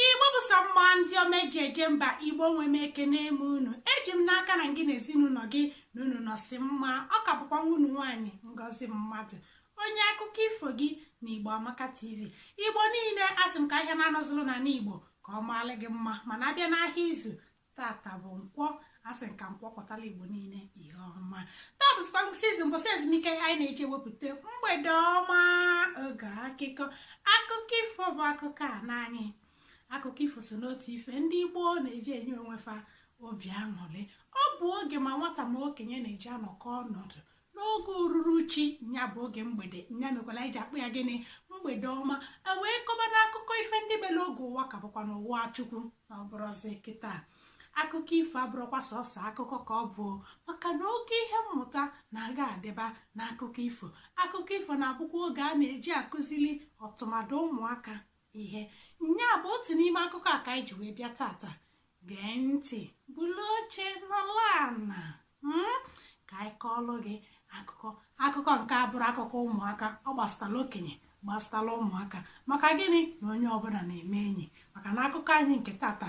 igbo bụ sọ mma ndị ọma eji eje mba igbo nwe m ekenee m unu eji m n'aka na gị na ezinụlọ gị na unu nọsị mma ọ ka bụkwa nwanne unu nwaanyị ngozi mmadụ onye akụkọ ifo gị na igbo amaka tv igbo niile asị m ka ahịa na-anọ zụlụ n'ana igbo ka ọ maalụ gị mma mana abịa n'ahịa izu tata bụ nkwọ asị m ka nkwọ kpatara igbo niile ihe ọma taa bụzikwa ngwụsị izu mbọsị ezumike anyị na-eji ewepụta mgbede ọma oge akụkọ akụkọ ifo bụ akụkọ ana anyị akụkọ ifo so n'otu ife ndị igbo na-eji enye onwe fa obi aṅụrị ọ bụ oge ma nwata ma okenye na-eji anọkọ ọnọdụ n'oge ururuchi nya bụ oge mgbede nya mekwalụ eji akpọ ya gịnị mgbede ọma e wee kọba n'akụkọ ife ndị mere oge ụwa ka bụkwa n'ụwa chukwu na ọ bụrọzi kịta akụkọ ifo abụrọkwa sọsọ akụkọ ka ọ bụ maka na oke ihe mmụta na-aga adịba n'akụkọ ifo akụkọ ifo na-abụkwa oge a na-eji akuzili tụmadụ ụmụaka ihe nya bụ otu n'ime akụkọ a ka anyị ji wee bịa tata gee ntị bulu oche nọlụ ana hmm? ka anyị kọọlụ gị akụkọ akụkọ nke a abụrọ akụkọ ụmụaka ọ gbasatala okenye gbasatala ụmụaka maka gịnị na onye ọbụla na-eme enyi maka na akụkọ anyị nke tata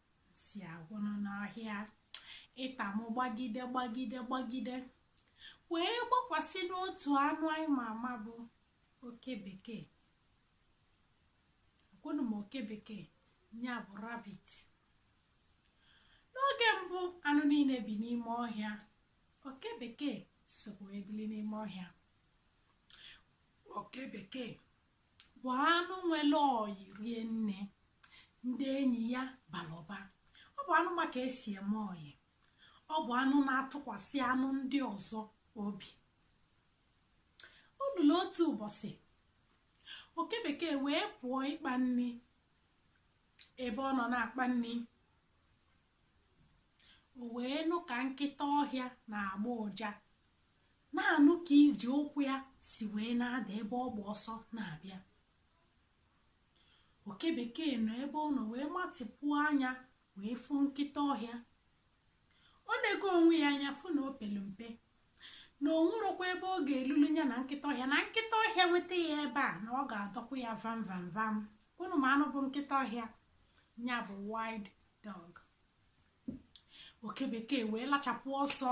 si agwụnụ n'ọhịa ịta m gbagide gbagide gbagide wee gbakwasị n'otu anụ anyị ma ama bụ oke bekee agwụnụ m oke bekee ya bụ rabbit n'oge mbụ anụ niile bi n'ime ọhịa oke bekee sokwa ebili n'ime ọhịa oke bekee bụ anụ nwere ọyị rie nne ndị enyi ya bara ụba ọ bụ anụ ma ka esi eme ọyị ọ bụ anụ na-atụkwasị anụ ndị ọzọ obi o lulu otu ụbọchị oke bekee wee pụọ ịkpa nri ebe ọ nọ na-akpa nri o wee nụ ka nkịta ọhịa na-agba ụja na-anụ ka ije ụkwụ ya si wee na-ada ebe ọ gba ọsọ na-abịa oke bekee nọ ebe ọ nọ wee matịpụ anya wee fụ nkịta ọhịa o nego onwe ya anya fụ na o pelu mpe na o nwerọkwa ebe ọ ga-elulu ya na nkịta ọhịa na nkịta ọhịa nweta ya ebe a na ọ ga-adọka ya vam vam vam unu ma anụ bụ nkịta ọhịa ya bụ wild dog oke bekee wee lachapụ ọsọ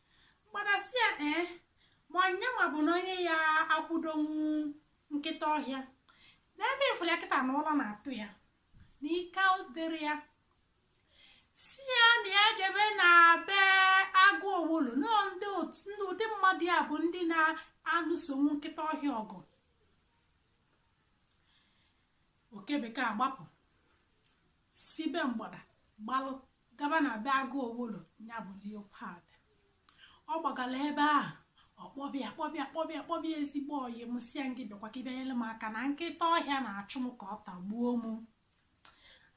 mgbada sị ya ee ma ọ nyanwa bụ na onye ya-akwụdonwu nkịta ọhịa n'ebe ị fụrụ ya kịta na ụjọ na-atụ ya na ike adịrọ ya sị ya na ya jebe na be agụ owulu na ọ ndị ụdị mmadụ ya bụ ndị na-alụsonwu nkịta ọhịa ọgụ oke bekee agbapụ si be mgbada gbalụ gaba na be agụ owolo ya bụ leopard ọ gbagara ebe ahụ ọ kpọba ya kpọba ya kpọba ya kpọba ya ezigbo ọyị m sị ya ngị bịakwa ka ị bịa nyere m aka na nkịta ọhịa na-achụ m ka ọ tagbuo m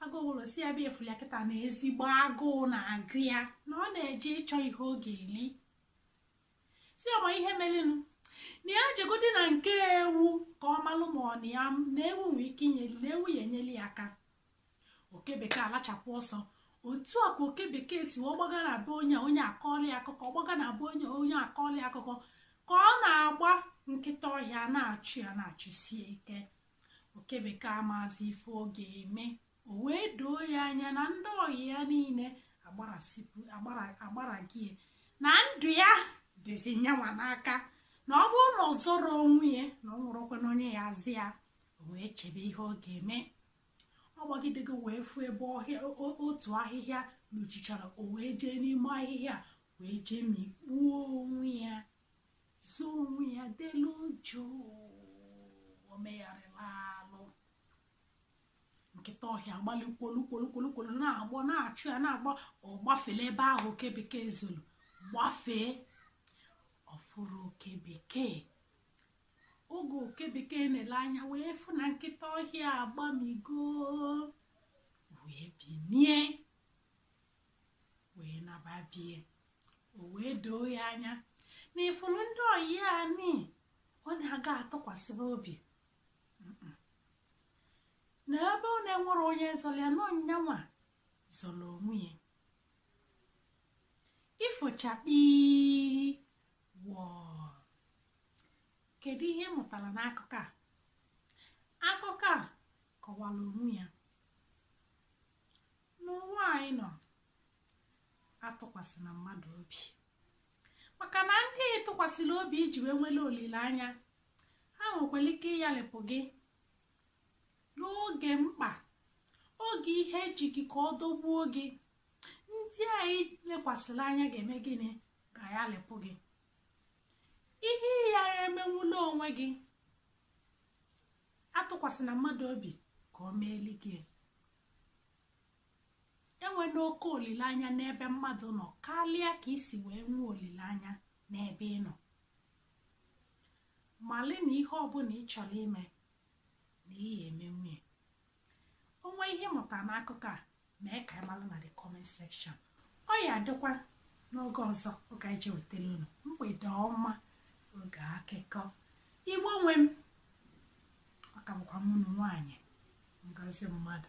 agụ owolo sị ya ebe ị fụlụ ya kịta na ezigbo agụụ na-agụ ya na ọ na-eje ịchọ ihe ọ ga-eli sị ya ma ihe merenụ na ya jegodu na nke ewu ka ọ malụ ma ọ na ya na ewu nwee ike inyeli na ewu ya-enyeli ya aka oke bekee alachapụ ọsọ otu a ka oke bekee si wee gbaga na be onye onye akọọlị ya akụkọ gbaga na be onye onye akọọlị ya akụkọ ka ọ na-agba nkịta ọhịa na-achụ ya na-achụsi ya ike oke bekee amazi ife ọ ga-eme o wee doo ya anya na ndị ọyị ya niile agbarago ya na ndụ ya dịzi nyanwa n'aka na ọ bụrụ na ọ zọrọ onwe ya na ọ nwụrụkwa na onye ya-azọ ya o wee chebe ihe ọ ga-eme ọ gbagidego wee fụ ebe ọhịa otu ahịhịa luchichara o wee jee n'ime ahịhịa wee jee mikpuo onwe ya zoo onwe ya delu jụụ o megharịla nkịta ọhịa agbalụ kwolu kwolu kwolu kwolu na-agbọ na-achụ ya na-agbọ ọ gbafele ebe ahụ oke bekee zoro gbafee ọ fụrọ oke bekee oge oke bekee na-ele anya wee fụ na nkịta ọhịa agbamigo wee binie wee naba be ya o wee doo ya anya na ị fụrụ ndị ọyị anyị ọ na-aga atụkwasịba obi na ebe ọ na-enwerọ onye zọrọ ya na ọ nyanwa zọrọ onwe ya ifo chakpii wọọ kedu ihe ị mụtara n'akụkọ a akụkọ a kọwara onwe ya n'ụwa anyị nọ atụkwasịna mmadụ obi maka na ndị ị tụkwasịrị obi i ji wee nwere olileanya ha nwekwara ike ịyalịpụ gị n'oge mkpa oge ihe eji gị ka ọ dọgbuo gị ndị anyị lekwasịrị anya ga-eme gịnị ga-ayalịpụ gị ihe ị ya-emenwuli onwe gị atụkwasịna mmadụ obi ka ọ meeli gị enwena oke olileanya n'ebe mmadụ nọ karịa ka i si wee nwee olileanya n'ebe ị nọ mali na ihe ọbụla ị chọrọ ime na ị ya-emenwuli onwe ihe ị mụtara n'akụkọ a mee ka anyị mara na the comment section ọ ya-adịkwa n'oge ọzọ oge anyị ji wetara unu mgbede ọma oge akụkọ igbo nwe m ọ ka bụkwa mụnụ nwaanyị ngozi mmadụ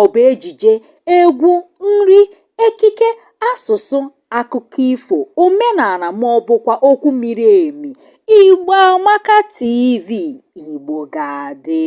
ọ bụ ejije egwu nri ekike asụsụ akụkọ ifo omenala ma ọ bụkwa okwu miri emi igbo amaka tv igbo ga-adị